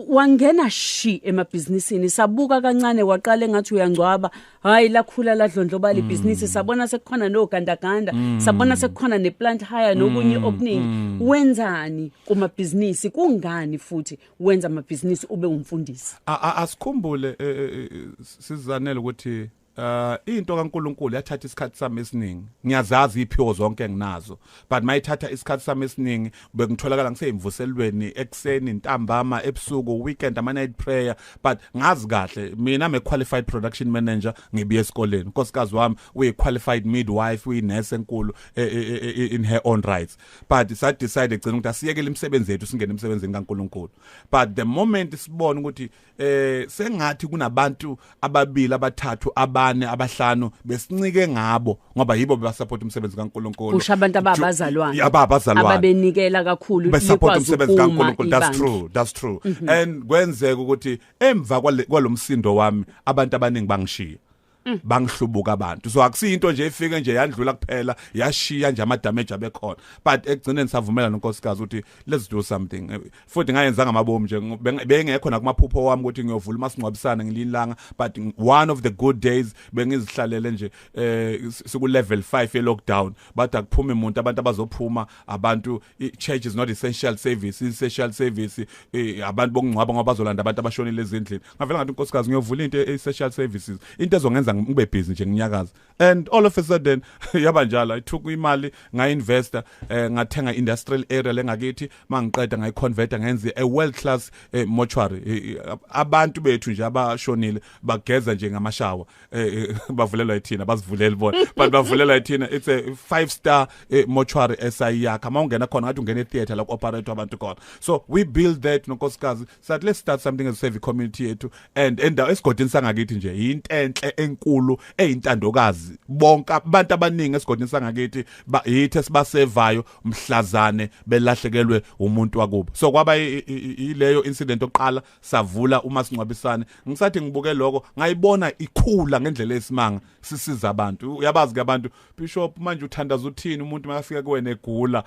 wangena shi emabhizinisini sabuka kancane waqala engathi uyangcwaba hayi lakhula ladlondloba libhizinisi mm. sabona sekukhona nogandaganda mm. sabona sekukhona neplant hire nokunye mm. okuningi wenzani kumabhizinisi kungani futhi wenza amabhizinisi ube umfundisi asikhumbule e, e, e, sizanele ukuthi Uh into kaNkuluNkulu yathatha isikhathi sami esiningi. Ngiyazazi iphiwo zonke enginazo, but mayithatha isikhathi sami esiningi bekutholakala ngiseyimvuselweni ekseni, ntambama, ebusuku, weekend ama night prayer, but ngazi kahle mina I'm a qualified production manager ngibiye esikoleni. Nkosikazi wami uyi qualified midwife, uyi nurse enkulu e, e, e, in her own rights. But sa decide egcina ukuthi asiyekele imisebenzi yethu singene emsebenzini kaNkuluNkulu. But the moment sibona ukuthi eh sengathi kunabantu ababili abathathu abane abahlanu besincike ngabo ngoba yibo bebasupport umsebenzi kaNkuluNkulu kusho abantu ababazalwane ababazalwane ababenikela kakhulu basupport umsebenzi kaNkuluNkulu that's true that's true mm -hmm. and kwenzeka ukuthi emva kwalomsindo wami abantu abaningi bangishiya Mm. bangihlubuka abantu so akusiyinto nje ifike nje yandlula kuphela yashiya nje ama damage abekhona but ekugcineni savumela nonkosikazi ukuthi let's do something futhi ngayenzanga amabomu nje bengekho nakumaphupho wami ukuthi ngiyovula umasingcwabisane ngilinlanga but one of the good days bengizihlalele nje eh siku level 5 ye lockdown bathi akuphumi umuntu abantu abazophuma abantu church is not essential service essential service eh, abantu bokungcwaba ngoba bazolanda abantu abashonile ezindlini ngavela ngathi unkosikazi ngiyovula into e-social services into ezongenza ngibe busy nje nginyakaza and all of a sudden yaba njalo i took imali ngainvesta eh, ngathenga industrial area lengakithi mangiqeda ngayiconverta ngenze a world class eh, mortuary eh, eh abantu bethu nje abashonile bageza nje ngamashawa eh, eh bavulelwa ithina bazivuleli bona but bavulelwa ithina it's a five star eh, mortuary esayiyakha mawungena khona ngathi ungena etheater la ku operator abantu khona so we build that nonkosikazi sathi let's start something as save community yethu and endawo esigodini sangakithi nje yintenhle enkulu eyintandokazi bonke abantu abaningi esigodini sangakithi yithe sibasevayo mhlazane belahlekelwe umuntu wakubo so kwaba yileyo incident oqala savula uma sincwabisane ngisathi ngibuke lokho ngayibona ikhula ngendlela esimanga sisiza abantu uyabazi ke abantu Bishop manje uthandaza uthini umuntu makafika kuwena egula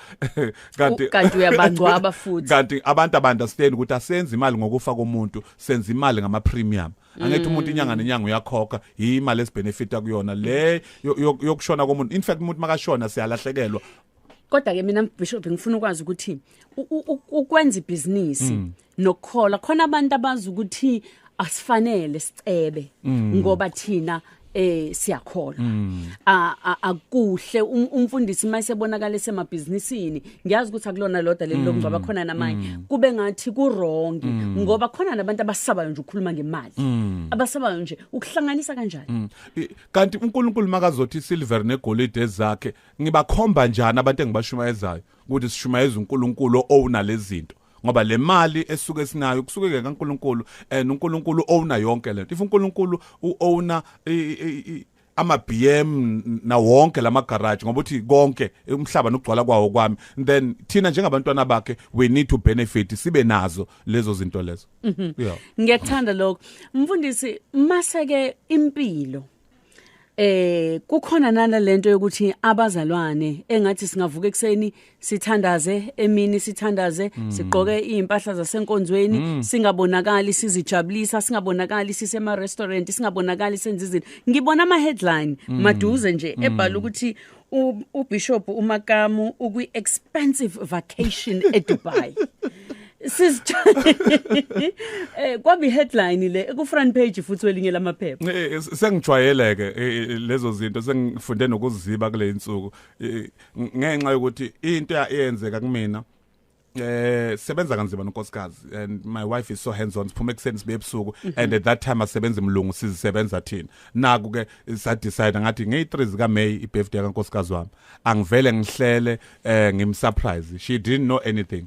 kanti kanti uyabangcwaba futhi kanti abantu abandastand ukuthi asenze imali ngokufa komuntu senza imali ngama premium angithi umuntu inyanga nenyanga uyakhokha imali esibenefita kuyona le yokushona komuntu in fact umuntu makashona siyalahlekelwa kodwa ke mina bishop ngifuna ukwazi ukuthi ukwenza ibhizinisi mm. nokukhola khona abantu abazi ukuthi asifanele sicebe mm. ngoba thina eh siyakholwa mm. akuhle um, umfundisi mayisebonakala esemabhizinisini ngiyazi ukuthi akulona loda leli lomngcwaba mm. khona namanye mm. kube ngathi ku wrong ngoba khona nabantu abasabayo nje ukukhuluma ngemali abasabayo nje ukuhlanganisa kanjani kanti uNkulunkulu makazothi silver negolide ezakhe ngibakhomba njani abantu engibashumayezayo ukuthi sishumayeza uNkulunkulu owna lezinto ngoba le mali esuke sinayo kusuke ke kaNkuluNkulu and uNkuluNkulu owner yonke lento if uNkuluNkulu uowner ama BM na wonke lama garage ngoba uthi konke umhlaba nokugcwala kwawo kwami then thina njengabantwana bakhe we need to benefit sibe nazo lezo zinto lezo mhm. yeah ngiyakthanda lokho mfundisi maseke impilo eh kukhona nana lento yokuthi abazalwane engathi singavuka ekseni sithandaze emini sithandaze mm. sigqoke impahla zasenkonzweni mm. singabonakali sizijabulisa singabonakali sisema restaurant singabonakali senza izinto ngibona ama headline mm. maduze nje mm. ebhala ukuthi uBishop uMakamu ukwi expensive vacation eDubai sizithole eh kwabi headline le ku front page futhi welinye lamaphepha eh, sengijwayele ke eh, eh, lezo zinto sengifunde nokuziba kule insuku ngenxa yokuthi into eyenzeka kumina eh sebenza kanzima nonkosikazi and my wife is so hands on siphume kuseni sibe ebusuku mhm. and at that time asebenza imlungu sizisebenza thina naku ke sa decide ngathi ngey 3 zika May i birthday ka nkosikazi wami angivele ngihlele eh ngim surprise she didn't know anything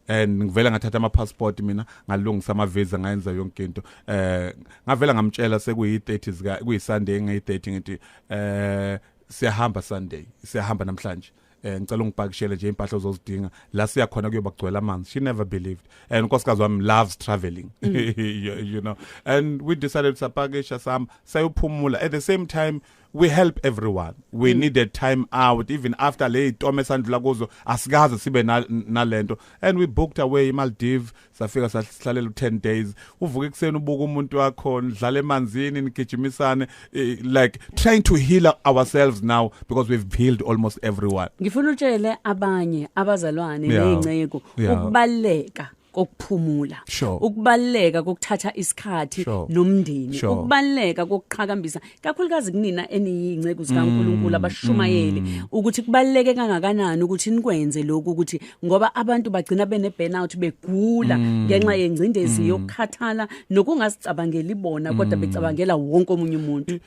and ngivela ngathatha ama passport mina ngalungisa ama visa ngayenza yonke into eh ngavela ngamtshela sekuyi 30 zika kuyi Sunday ngeyi 30 ngithi eh siyahamba Sunday siyahamba namhlanje eh ngicela ungipakishele nje impahla ozozidinga la siya khona kuyoba kugcwele amanzi she never believed and unkosikazi wami loves traveling mm. you, you know and we decided sapakisha sam sayophumula at the same time we help everyone we mm. needed time out even after le itomo esandlula kuzo asikaze sibe nalento and we booked away iMaldives safika sahlalela u10 days uvuka ekuseni ubuka umuntu wakho nidlala emanzini nigijimisane eh, like trying to heal ourselves now because we've healed almost everyone ngifuna utshele abanye abazalwane Yeah. nezinceku Yeah. ukubaleka kokuphumula Sure. ukubaleka kokuthatha isikhathi Sure. nomndeni Sure. ukubaleka kokuqhakambisa kakhulukazi kunina eniyinceku zikaNkuluNkulu mm, abashumayeli mm. ukuthi kubaleke kangakanani ukuthi nikwenze lokhu ukuthi ngoba abantu bagcina bene burnout begula mm. ngenxa yengcindezi yokukhathala nokungasicabangeli bona kodwa becabangela wonke omunye umuntu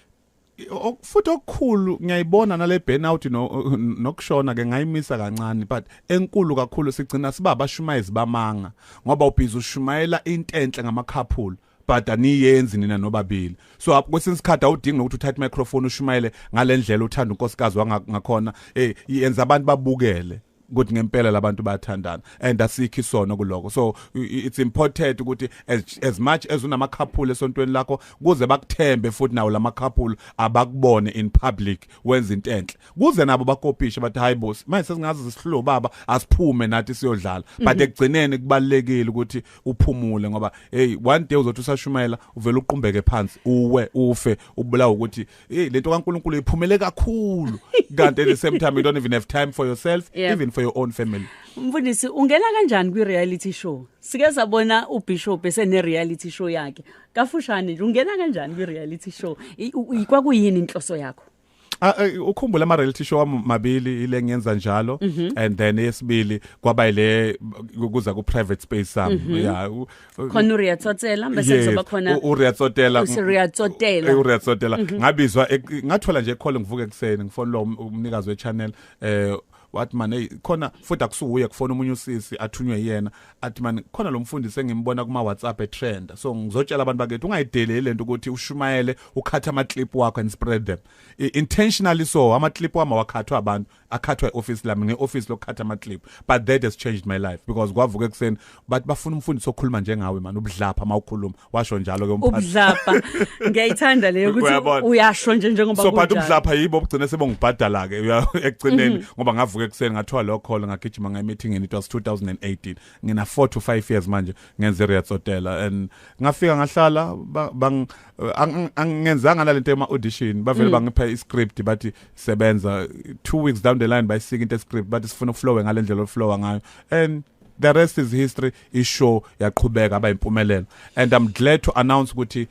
futhi okukhulu ngiyayibona nale burnout nokushona ke ngayimisa kancane but enkulu kakhulu sigcina siba abashumayezi bamanga ngoba ubhizi ushumayela intenhle ngamakhaphulo but aniyenzi nina nobabili so kwesinye isikhathi awudingi nokuthi uthathe microphone ushumayele ngalendlela uthanda unkosikazi wangakhona eh yenza abantu babukele ukuthi ngempela labantu bayathandana and asikho isono kuloko so it's important ukuthi as, as much as unama couple esontweni lakho kuze bakuthembe futhi nawo lama couple abakubone in public wenza into enhle kuze nabo bakopishe bathi hayi boss manje sesingazi sihlobo baba asiphume nathi siyodlala but mhm. ekugcineni kubalekile ukuthi uphumule ngoba hey one day uzothi usashumayela uvela uqumbeke phansi uwe ufe ubulawa ukuthi hey lento kaNkuluNkulu iphumele kakhulu kanti at the same time you don't even have time for yourself yeah. even for your own family mfundisi ungena kanjani kwi reality show sike sabona ubishop esene reality show yakhe kafushane nje ungena kanjani kwi reality show ikwakuyini inhloso yakho Ah, eh, ukhumbula ama reality show amabili ile ngenza njalo mhm. and then esibili kwaba ile kuza ku private space sami mhm. yeah khona uRia Tsotela bese kuzoba khona uRia Tsotela uRia Tsotela uRia Tsotela ngabizwa e, ngathola nje call ngivuke ekseni ngifona lo umnikazi we channel eh wathi mani hey khona futhi akusuwuye kufona umunye usisi athunywe yena athi mani khona lo mfundisi engimbona kuma WhatsApp etrenda so ngizotshela abantu bakithi ungayideleli lento ukuthi ushumayele ukhatha ama clip wakho and spread them I, intentionally so ama clip wama wakhathwa abantu akhathwa eoffice lami ngeoffice lokukhatha ama clip but that has changed my life because kwavuka ekseni but bafuna umfundisi okhuluma njengawe mani ubudlapha mawukhuluma washo njalo ke umphathi ubudlapha ngiyayithanda leyo ukuthi Uyabona. uyasho nje njengoba so but kunjalo. ubudlapha yibo obugcine sebongibhadala ke uya- ekugcineni Mhm. ngoba ngavuka ekuseni ngathiwa lo call ngagijima ngaye meeting it was 2018 ngina 4 to 5 years manje ngenze Riets Hotel and ngafika ngahlala ba- bang eh, ang- angenzanga nalento ema audition bavele Mm. bangipha i script bathi sebenza 2 weeks down the line bayisika into e script bathi sifuna ukuflowe ngalendlela oflowa ngayo and the rest is history ishow yaqhubeka aba impumelelo and i'm glad to announce ukuthi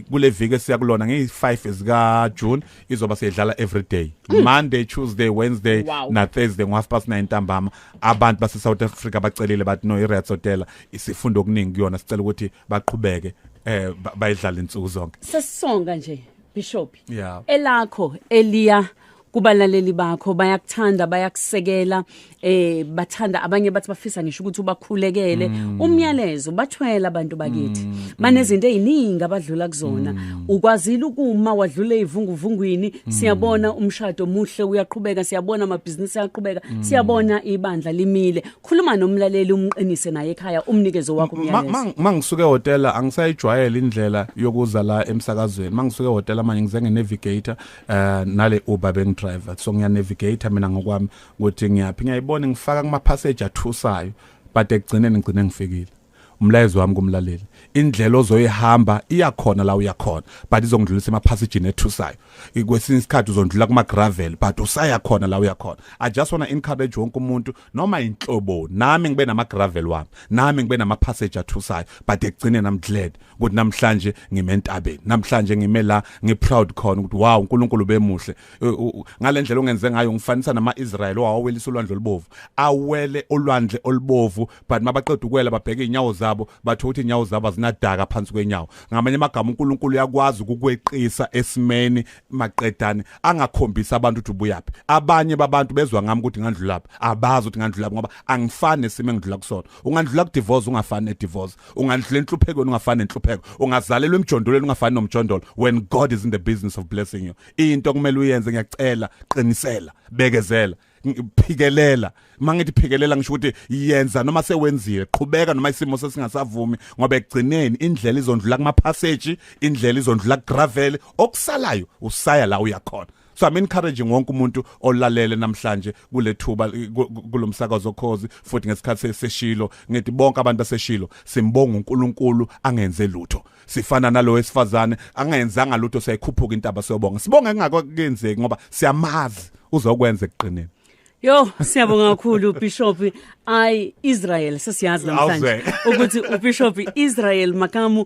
kule viki esiyakulona ngeyi5 ezika June izoba seyidlala every day mm. Monday Tuesday Wednesday wow. na Thursday ngo half past 9 ntambama abantu base South Africa bacelile bathi no iReds Hotel isifunda okuningi kuyona sicela ukuthi baqhubeke eh bayidlala insuku zonke sesonga nje bishop yeah elakho eliya kubalaleli bakho bayakuthanda bayakusekela eh bathanda abanye bathi bafisa ngisho ukuthi ubakhulekele mm. umyalezo bathwela abantu bakithi mm. mm. banezinto eziningi abadlula kuzona mm. ukwazile ukuma wadlule ivunguvungwini mm. siyabona umshado muhle uyaqhubeka siyabona amabhizinisi ayaqhubeka mm. siyabona ibandla limile khuluma nomlaleli umqinise naye ekhaya umnikezo wakho umyalezo mangisuke hotel angisayijwayele indlela yokuza la emsakazweni mangisuke hotel manje ngizenge navigator eh nale Uber beng driver so ngiya navigate mina ngokwami ukuthi ngiyaphi ngiyayibona ngifaka kuma passage athusayo but ekugcineni ngigcine ngifikile umlayezo wami kumlaleli indlela ozoyihamba iyakhona la uyakhona but izongidlulisa emaphasijini ethusayo kwesinye isikhathi uzondlula kuma gravel but usaya khona la uyakhona i just want to encourage wonke umuntu noma inhlobo nami ngibe nama gravel wami nami ngibe nama passage athusayo but ekugcine nam glad ukuthi namhlanje ngime entabeni namhlanje ngime la ngi proud khona ukuthi wow uNkulunkulu bemuhle ngalendlela ongenze ngayo ngifanisa nama Israel owawelisa ulwandle olubovu awele ulwandle olubovu but mabaqeda ukwela babheka inyawo zabo batho ukuthi inyawo zabo zinadaka phansi kwenyawo ngamanye amagama uNkulunkulu uyakwazi ukukweqisa esimeni maqedane angakhombisa abantu ukuthi ubuyaphi abanye babantu bezwa ngami ukuthi ngandlulaphi abazi ukuthi ngandlulaphi ngoba angifani nesimo engidlula kusona ungandlula kudivorce ungafani nedivorce ungandlula enhluphekweni ungafani nenhlupheko ungazalelwa emjondolweni ungafani nomjondolo when god is in the business of blessing you into kumele uyenze ngiyacela qinisela bekezela phikelela mangithi phikelela ngisho ukuthi yenza noma sewenziwe qhubeka noma isimo sesingasavumi ngoba ekugcineni indlela izondlula kuma passage indlela izondlula gravel okusalayo usaya la uyakhona so i'm encouraging wonke umuntu olalele namhlanje kulethuba kulomsakazo khozi futhi ngesikhathi seseshilo ngithi bonke abantu baseshilo simbonga uNkulunkulu angenze lutho sifana nalo wesifazane angayenzanga lutho siyayikhuphuka intaba siyobonga sibonga kungakenzeki ngoba siyamazi uzokwenza ekugqineni Yo siyabonga kakhulu Bishop I Israel sesiyazi namhlanje ukuthi uBishop Israel Makamu